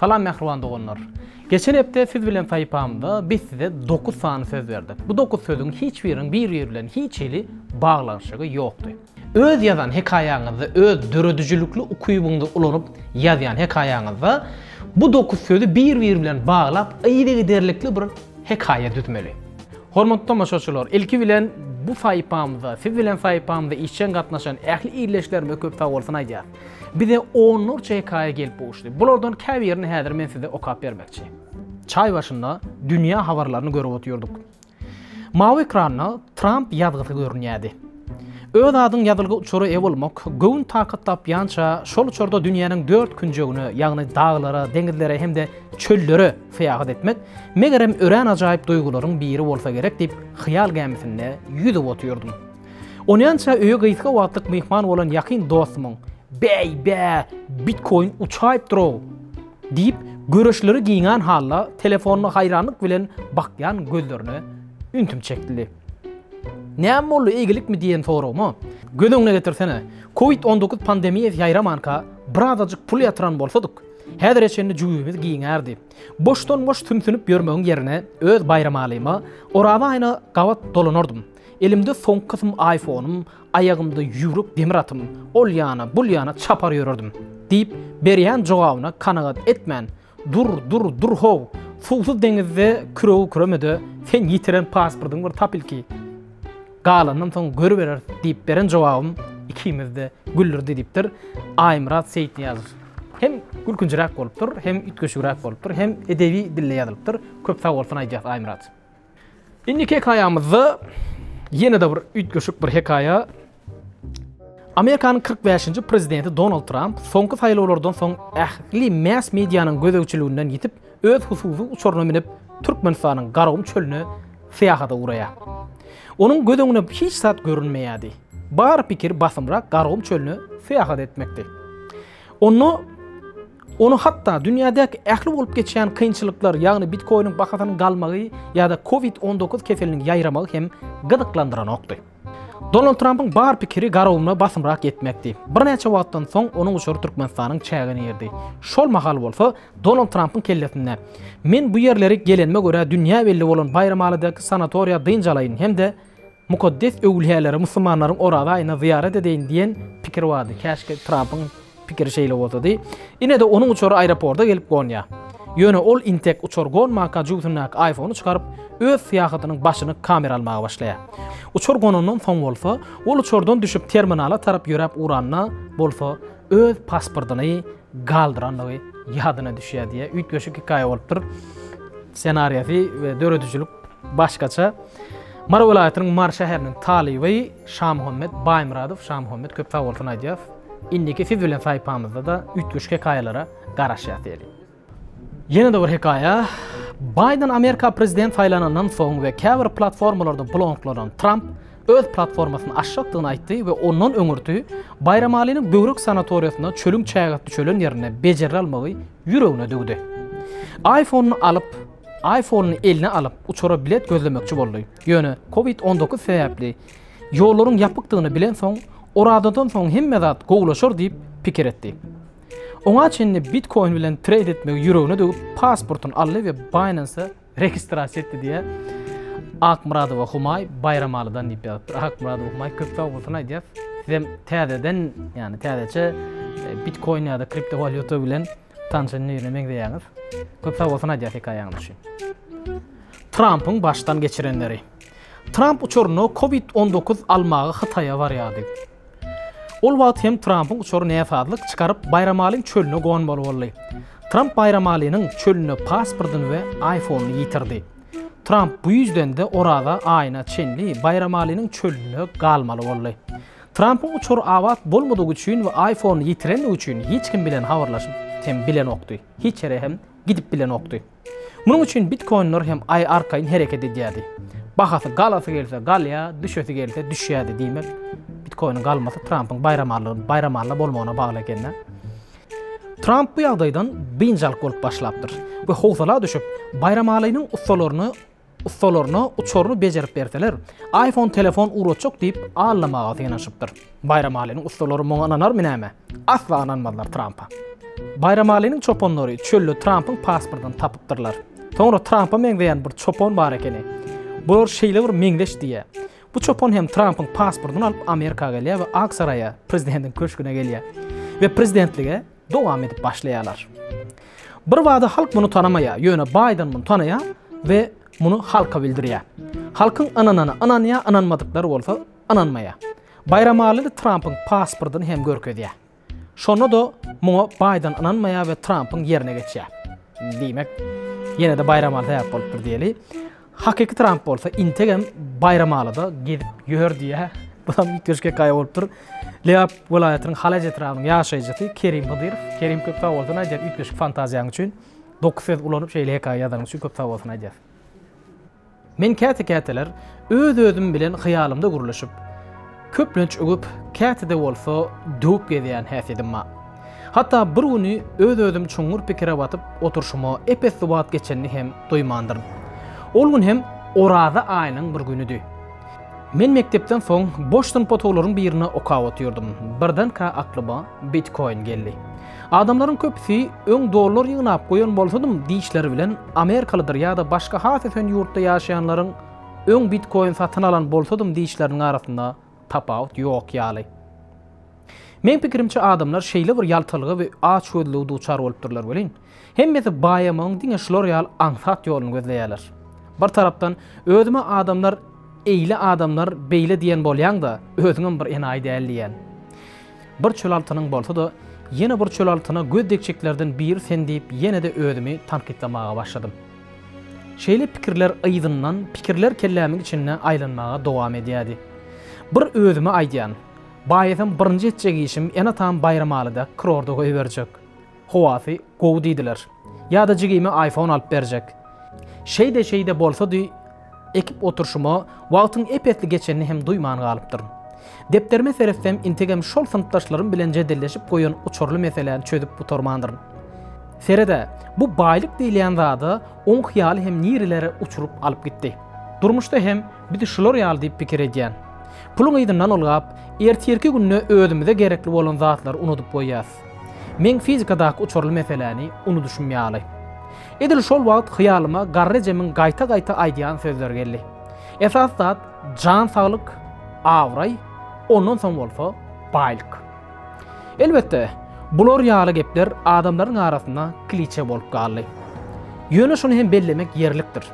Salam mähriban doganlar. Geçen hepde siz bilen saýpamda biz size 9 sany söz berdik. Bu 9 sözüň hiç biriniň bir-biri bilen hiç hili baglanyşygy ýokdy. Öz ýazan hekaýaňyzda öz döredijilikli ukybyňyzy ulanyp ýazýan hekaýaňyzda bu 9 sözi bir-biri bilen baglap yzygiderlikli bir hekaýa düzmeli. Hormatly tomaşaçylar, ilki bilen bu saýypamyza, siz bilen saýypamyza işjeň gatnaşan ähli ildeşlerimize köp sagbolsun aýdýas. Bize onlarça hekaýa gelip gowuşdy. Bulardan käbirini häzir men size okap bermekçi. Çaý başynda dünýä habarlaryny görüp otyrdyk. Mawy ekranda Tramp ýazgysy görünýärdi. Öz adyň ýazylgy uçara eýe bolmak, göwün takat tapýança, şol uçarda dünýäniň dört künjegine, ýagny daglara, deňizlere hem-de çöllere, Syýahat etmek, megerem, örän ajaýyp duýgularyň biri bolsa gerek diýip, hyýal gämisinde ýüzüp otyrdym. Onýança öýe gysga wagtlyk myhman bolan ýakyn dostumyň, Bäý, bä, bitkoin uçaýyp dur-ow! diýip, göreçleri giňän halda telefonyna haýranlyk bilen bakýan gözlerine üntim çekildi. Näme boldy, eýgilikmi diýen soragyma, Göz öňüne getirsene, covid on dokuz pandemiýasy ýaýramanka, birazajyk pul ýatyran bolsadyk, Häzire çenli jübimiz giňärdi. Boşdan-boş sümsünip ýörmegiň ýerine öz Baýramalyma Oraza aýyna gabat dolanardym. Elimde soňky kysym aýfonym, aýagymda ýüwrük demir atym, ol ýana, bul ýana çapar ýörerdim. Diýip, berýän jogabyna kanagat etmän, Dur, dur, dur-how! Suwsuz deňizde küregi küreme-de, sen ýitiren pasportyňy bir tap ilki! Galanynam soň görübereris diýip beren jogabym ikimizde güldürdi diýipdir Aýmyrat Seýitnyýazow. Hem gülkünjiräk bolupdyr, hem üýtgeşigräk bolupdyr, hem edebi dilde ýazylypdyr. Köp sag bolsun aýdýas Aýmyrat. Indiki hekaýamyzda ýene-de bir üýtgeşik bir hekaýa. Amerikanyň kyrk bäşinji prezidenti Donald Tramp soňky saýlawlardan soň ähli mass medianyň gözegçiliginden ýitip öz hususy uçaryna münip Türkmenistanyň Garagum çölüne syýahata ugraýar. Onuň göz öňüne hiç zat görünmeýärdi. Bar pikir basymrak Gargum çölüne syýahat etmekdi. Onda ony hatda dünýädäki ähli bolup geçýän kynçylyklar, ýagny bitkoiniň bahasynyň galmagy ýa-da covid-on dokuz keseliniň ýaýramagy hem gyzyklandyranokdy. Donald Trampyň bar pikiri garawulyna basymrak ýetmekdi. Birnäçe wagtdan soň onuň uçary Türkmenistanyň çägine girdi. Şol mahal bolsa, Donald Trampyň kellesinde, Men bu ýerleri gelenime görä dünýä belli bolan Baýramalydaky sanatoriýa dynç alaýyn hem-de mukaddes öwülýälere, musulmanlaryň Oraza aýynda zyýarat edeýin diýen pikir bardy. Käşgä Trampyň Pikiri şeýle bolsady, ine-de onuň uçary aeroporda gelip gonýar. Ýöne ol intek uçar gonmanka jübüsindäki aýfony çykaryp, öz syýahatynyň başyny kamera almaga başlaýar. Uçar gonandan soň bolsa, ol uçardan düşüp terminala tarap ýöräp ugranda bolsa, öz pasportyny galdyrandygy ýadyna düşýär diýýär. Üýtgeşik hekaýa bolupdyr. Ssenariýasy we döredijilik başgaça. Mary welaýatynyň Mary şäheriniň talyby Şamuhammet Baýmyradow. Şamuhammet köp sag bolsun aýdýas. Indiki siz bilen saýpamyzda-da üýtgeşik hekaýalara garaşýas diýeli. Ýene-de bir hekaýa, Baýden Amerika prezident saýlanandan soň we käbir platformalarda blonklanan Tramp öz platformasyny açjakdygyny aýtdy we ondan öňürti Baýramalynyň böwrek sanatoriýasynda çölüň çägesi düşelen ýerinde bejergi almagy ýüregine düwdi. Aýfonyny alyp, Aýfonyny eline alyp, uçara bilet gözlemekçi boldy, ýöne covid on dokuz sebäpli Ýollaryň ýapykdygyny bilensoň, Orazadan soň hemme zat gowulaşar diýip pikir etdi. Oňa çenli bitkoin bilen treýd etmegi ýüregine döwüp, pasportyny aldy we Binance-a registrasiýa etdi diýýä. Akmyradowa Humaý Baýramalydan diýip ýazypdyr. Akmyradowa Humaý köp sag bolsun aýdýas. Sizem täzeden, ýani täzeçe e, bitkoin ýa-da kriptowalýuta bilen tanşan birine meňzeýäňiz. Köp sag bolsun aýdýas hekaýaňyz üçin. Trampyň başdan geçirenleri. Tramp uçaryna covid on dokuz almaga Hytaýa barýardy. Ol wagt hem Trampyň uçary näsazlyk çykaryp Baýramalyň çölüne gonmaly boldy. Tramp Baýramalynyň çölünde pasportyny we aýfonyny ýitirdi. Tramp bu ýüzden-de Oraza aýyna çenli Baýramalynyň çölünde galmaly boldy. Trampyň uçary abat bolmadygy üçin we aýfonyny ýitirendigi üçin hiç kim bilen habarlaşyp hem bilenokdy, hiç ýere hem gidip bilenokdy. Munuň üçin bitkoinler hem Aý arkaýyn hereket edýärdi. Bahasy galasy gelse galýa, düşesi gelse düşýärdi. Diýmek, bitkoiniň galmasy Trampyň baýramarlygyny baýramalla bolmagyna bagly ekeni. Tramp bu ýagdaýdan biynjalyk bolup başlapdyr we howsala düşüp, baýramalynyň ussalaryny ussalaryna uçaryny bejerip berseler, iPhone telefon ugratjak diýip aldamaga synanyşypdyr. Baýramalynyň ussalary muňa ynanarmy näme? Asla ynanmazlar Trampa. Baýramalynyň çopanlary çölde Trampyň pasportyny tapypdyrlar. Soňra Trampa meňzeýän bir çopan bar ekeni. Bular şeýle bir meňzeş diýýär. Bu çopan hem Trampyň pasportyny alyp Amerika gelýär we Ak saraýa, prezidentiň köşgüne gelýär. We prezidentlige Dowam edip başlaýarlar. Birbada halk muny tanamaýar, ýöne Baýden muny tanaýar we muny halka bildirýär. Halkyň ynanany ynanýar, ynanmadyklary bolsa ynanmaýar. Baýramalyny Trampyň pasportyny hem görkezýär. Şonda-da muňa Baýden ynanmaýar we Trampyň ýerine geçýär. Diýmek, ýene-de Baýramaly sebäp bolupdyr diýeli. Hakyky Tramp bolsa integem baýramalyda gezip ýör diýýär. Bu hem ýitgeş hekaýa bolup dur. Lebap welaýatynyň Halaç etrabynyň ýaşaýjysy Kerim Hydyrow. Kerim köp sag bolsun aýdýar üýtgeşik fantaziýaň üçin. Dokuz söz ulanyp şeýle hekaýa ýazanyň üçin köp sag bolsun aýdýar. Men käte-käteler öz-özüm bilen hyýalymda gürleşip, Köplenç öwüp, käte-de bolsa döwüp gezýän häsiýedim bar. Hatda bir güni öz-özüm çuňňur pikire batyp oturşyma ep-esli wagt geçenini hem duýmandyryn. Ol gün hem Oraza aýynyň bir günüdi. Men mekdepden soň boş synp otaglaryň birine okap otyrdym. Birdenkä aklyma Bitkoin geldi. Adamlaryň köpüsi öň dollar ýygnap goýan bolsadym, dişleri bilen amerikalydyr ýa-da başga has ösen ýurtda ýaşaýanlaryň Öň bitkoin satyn alan bolsadym diýişleriniň arasynda tapawut ýok ýaly. Meň pikirimçe adamlar şeýle bir ýaltalyga we açgözlüge duçar bolupdyrlar welin, hemmesi baýamagyň diňe şular ýaly aňsat ýoluny gözleýärler. Bir tarapdan, özüme adamlar eýle adamlar beýle diýen bolýaň-da, özüňem bir enaýy däl diýýän. Bir çöl altynyň bolsa-da, ýene bir çöl altyna göz degçeklerden biri sen diýip ýene-de özümi tankytlamaga başladym. Şeýle pikirler yzyndan pikirler kellämiň içinde aýlanmaga dowam edýärdi. Bir özüme aýdýan, Baýasam birinji etjek işim ene-atam Baýramalyda kurorta goýberjek. Howasy gowy diýdiler. Ýa-da jigime iPhone alyp berjek. Şeýde-şeýde bolsady, Ekip oturyşyma wagtyň ep-esli geçenini hem duýman galypdyryn. Depderime seretsem, integem şol synpdaşlarym bilen jedelleşip goýan uçurly meseläni çözüp gutarmandyryn. Sered-ä, bu baýlyk diýilýän zad-a oň hyýaly hem nirelere uçuryp alyp gitdi. Durmuşda hem biz şular ýaly diýip pikir edýän. Puluň yzyndan ylgap, ertirki günde özümize gerekli bolan zatlary unudyp goýýas. Meň fizikadaky uçurly meseläni unudyşym ýaly. Edil şol wagt hyýalyma garry ejemiň gaýta-gaýta aýdýan sözleri geldi. Esasy zat jan saglyk, abraý, ondan soň bolsa baýlyk. Elbetde, bular ýaly gepler adamlaryň arasynda kliçe bolup galdy. Ýöne şuny hem bellemek ýerlikdir.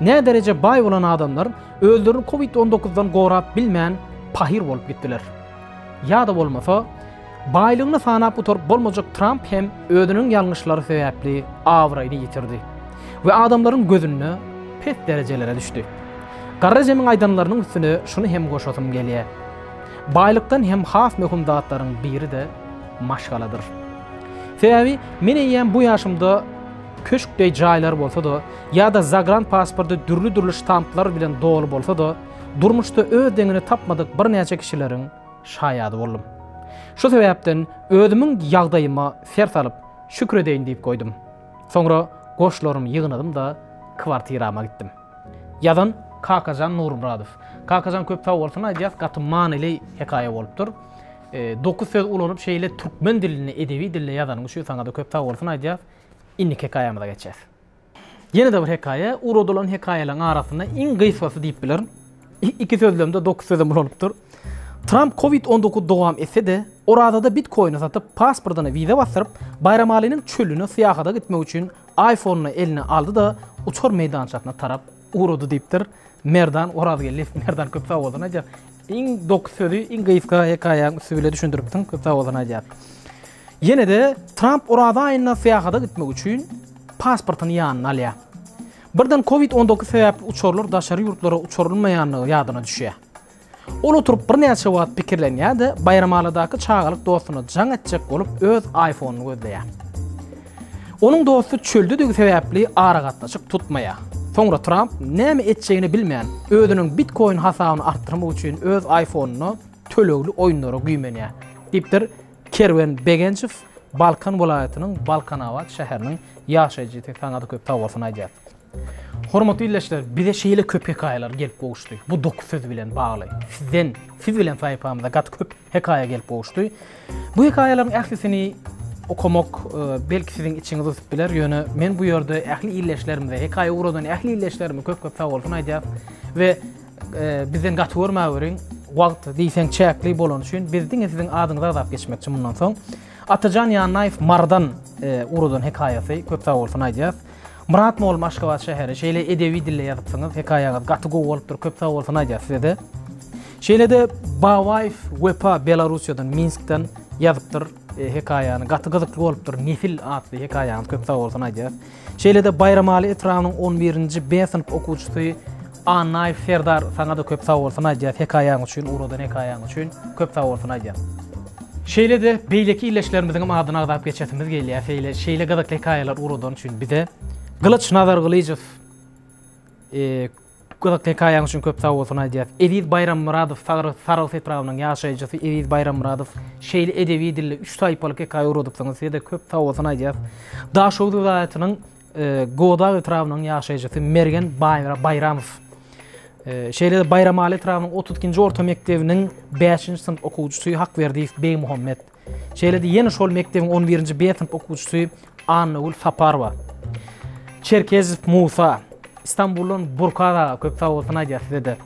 Nädereje baý bolan adamlar özlerini covid on dokuzdan gorap bilmän pahyr bolup gitdiler. Ýa-da bolmasa, Baýlygyny sanap gutaryp bolmajak Tramp hem özüniň ýalňyşlary sebäpli abraýyny ýitirdi we adamlaryň gözünde pes derejelere düşdi. Garry Jemiň aýdanlarynyň üstüne şuny hem goşasym gelýär. Baýlykdan hem has möhüm zatlaryň biri-de maşgaladyr. Sebäbi men eýýäm bu ýaşymda köşk deý jaýlar bolsa-da ýa-da zagran pasporty dürli-dürli ştamplar bilen doly bolsa-da, durmuşda öz deňini tapmadyk birnäçe kişileriň, şaýady boldum. Şu sebäpden özümiň ýagdaýyma ser salyp, şükür edeýin diýip goýdum. Soňra goşlarymy ýygnadym-da, kwartirama gitdim. Ýazan, Kakajan Nurmyradow. Kakajan köp sag bolsun aýdýas gaty manyly hekaýa bolupdyr. Dokuz söz ulanyp şeýle türkmen dilinde edebi dilde ýazanyň üçin saňada köp sag bolsun aýdýas. Indiki hekaýamyza geçýäs. Ýene-de bir hekaýa, ugradylan hekaýalaryň arasynda iň gysgasy diýip bilerin. Iki sözlemde dokuz sözem ulalypdyr. Tramp covid on dokuz dowam etse-de, Orazada bitkoýny satyp, pasportyna wiza basdyryp, Baýramalynyň çölüne syýahata gitmek üçin iPhone-yny eline aldy-da, uçar meýdançasyna tarap ugrady diýipdir. Merdan Orazgeldiýew. Merdan köp sag bolsun aýdýar. Iň doky sözi iň gysga hekaýaň üsti bile düşündiripsiň. Köp sag bolsun aýdýar. Ýene-de Tramp Oraz aýynda syýahata gitmek üçin pasportyny ýanyna alýar. Birden covid on dokuz sebäpli uçarlar daşary ýurtlara uçurylmaýandygy ýadyna düşýär. Ol oturyp birnäçe wagt pikirlenýär-de, Baýramaladaky çagalyk dostuna jaň etjek bolup öz aýfonyny gözleýär. Onuň dosty çöldedigi sebäpli aragatnaşyk tutmaýar. Soňra Tramp näme etjegini bilmän, özüniň bitkoin hasabyny artdyrmak üçin öz aýfonynda tölegli oýunlara güýmenýär, diýipdir Kerwen Begenjow, Balkan welaýatynyň Balkanabat şäheriniň ýaşaýjysy. Saňa-da köp sag bolsun aýdýas. Hormatly ildeşler, bize şeýle köp hekaýalar gelip gowuşdy. Bu dokuz söz bilen bagly. Sizden, siz bilen saýypamyza gaty köp hekaýa gelip gowuşdy. Bu hekaýalaryň ählisini okamak, belki siziň içiňizi yssyp biler, ýöne men bu ýerde ähli ildeşlerimize, hekaýa ugradan ähli ildeşlerime köp-köp sagbolsun aýdýas we bizden gaty görmäweriň, wagt diýseň çäkli bolany üçin biz diňe siziň adyňyzy agzap geçmekçi mundan soň. Atajan Ýannaýew Marydan ugradan hekaýasy, köp sagbolsun aýdýas. Myrat molla Aşgabat şäheri şeýle edebi dilde ýazypsyňyz hekaýaňyz gaty gowy bolupdyr köp sag bolsun aýdýas sizede. Şeýlede Babaýew Wepa Belarussiýadan Minskden ýazypdyr hekaýany gaty gyzykly bolupdyr Nesil atly hekaýaňyz köp sag bolsun aýdýas. Şeýlede Baýramaly etrabynyň on birinji B synp okuwçysy Annaýew Serdar saňa-da köp sag bolsun aýdýas hekaýaň üçin, ugradan hekaýaň üçin köp sag bolsun aýdýas. Şeýle-de beýleki illeşlerimiziňem adyny agzap geçesimiz gelýär, seýle şeýle gyzykly hekaýalary ugradany üçin bize. Gylyç Nazargylyjow gyzykly hekaýaň üçin köp sag bolsun aýdýas. Eziz Baýrammyradow Saryg Sarahs etrabynyň ýaşaýjysy Eziz Baýrammyradow şeýle edebi dilde üç saýpalyk hekaýa ugradypsyňyz size-de köp sag bolsun aýdýas. Daşoguz welaýatynyň Godag etrabynyň ýaşaýjysy Mergen Baýramow, şeýle-de Baýramaly etrabynyň otuz ikinji orta mekdebiniň bäşinji synp okuwçysy Hakberdiýew Begmuhammet, şeýle-de ýene şol mekdebiň on birinji B synp okuwçysy Annagül Saparowa, Çerkezow Musa, Stambuldan Burkar aga, köp sag bolsun aýdýas size-de.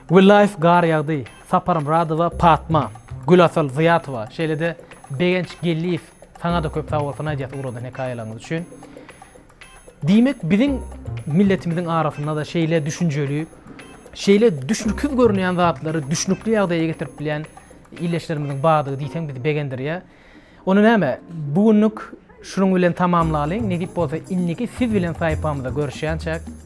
Willaýew Gar ýagdy, Saparmyradowa Patma, Gülasal Zyýatowa, şeýle-de Begenç Gelliýew Saňada köp sagbolsun aýdyas ugradan hekaýalaryňyz üçin. Diýmek biziň milletimiziň arasyndada şeýle düşünjeli, şeýle düşnükiz görünýän zatlary düşnükli ýagdaýa getirip bilýän illeşlerimiziň bardygy diýseň bizi begendirýär. Onda näme bu günlük şunuň bilen tamamlalyň, nesip bolsa indiki siz bilen saýpamyzda görüşýänçäk.